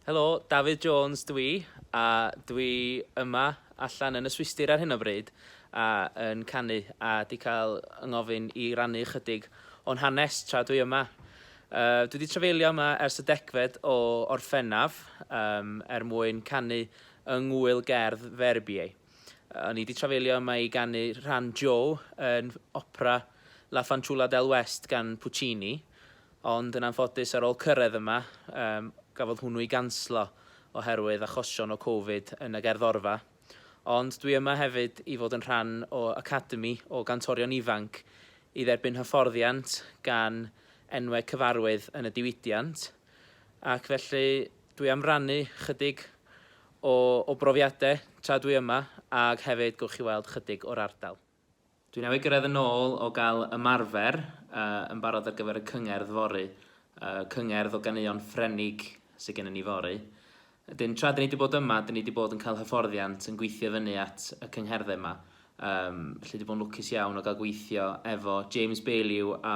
Helo, Dafydd Jones dw i, a dw i yma allan yn y Swistir ar hyn o bryd a yn canu a 'di cael 'y ngofyn i rannu ychydig o'n hanes tra dwi yma. Yy dwi 'di trafeilio yma ers y degfed o Orffennaf yym er mwyn canu yng ngŵyl gerdd Verbier. O'n i 'di trafeilio yma i ganu rhan Joe yn opera La Fanciulla del West gan Puccini, ond yn anffodus ar ôl cyrraedd yma, um, gafodd hwnnw ei ganslo oherwydd achosion o Covid yn y gerddorfa. Ond dwi yma hefyd i fod yn rhan o academi o gantorion ifanc i dderbyn hyfforddiant gan enwau cyfarwydd yn y diwydiant, ac felly Dwi am rannu chydig o o brofiadau tra dwi yma ag hefyd gowch chi weld chydig o'r ardal. Dwi newydd gyrraedd yn ôl o gael ymarfer yn barod ar gyfer y cyngerdd fory, cyngerdd o ganeuon Ffrenig sydd gennym ni fory. Wedyn tra 'dyn ni 'di bod yma 'dyn ni 'di bod yn cael hyfforddiant yn gweithio fyny at y cyngherddau yma, felly 'di bod yn lwcus iawn o gael gweithio efo James Baillieu a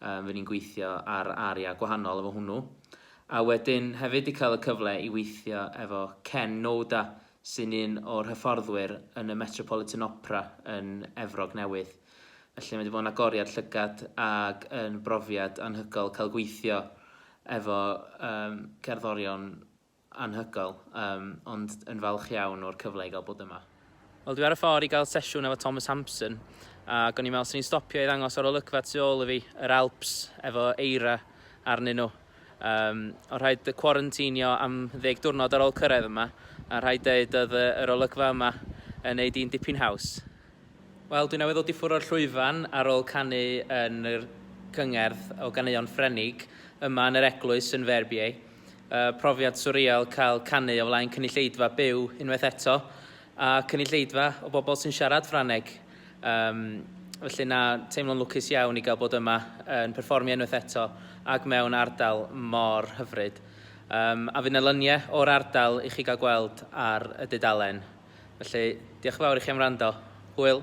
Yy fy ni'n gweithio ar aria gwahanol efo hwnnw. A wedyn hefyd 'di cael y cyfle i weithio efo Ken Noda sy'n un o'r hyfforddwyr yn y Metropolitan Opera yn Efrog Newydd. Felly mae 'di bod yn agoriad llygad ag yn brofiad anhygoel cael gweithio efo um, cerddorion Anhygoel, yym, ond yn falch iawn o'r cyfle i gael bod yma. Wel, dwi ar y ffordd i gael sesiwn efo Thomas Hampson, ac o'n i'n meddwl 'swn i'n stopio i ddangos yr olygfa tu ôl i fi, yr Alps, efo eira arnyn nhw. Um, o rhaid cwarantinio am ddeg diwrnod ar ôl cyrraedd yma, a rhaid dweud oedd yr olygfa yma yn neud i'n dipyn haws. Wel, dwi newydd ddod i ffwrdd o'r llwyfan ar ôl canu yn yr cyngerdd o ganeuon Ffrenig yma yn yr eglwys yn Verbier. y profiad swrial cael canu o flaen cynulleidfa byw unwaith eto, a cynulleidfa o bobl sy'n siarad Ffrangeg. Um, felly na, teimlo'n lwcus iawn i gael bod yma yn perfformio unwaith eto ac mewn ardal mor hyfryd. Um, a fydd yna lyniau o'r ardal i chi gael gweld ar y dudalen. Felly, diolch yn fawr i chi am wrando. Hwyl!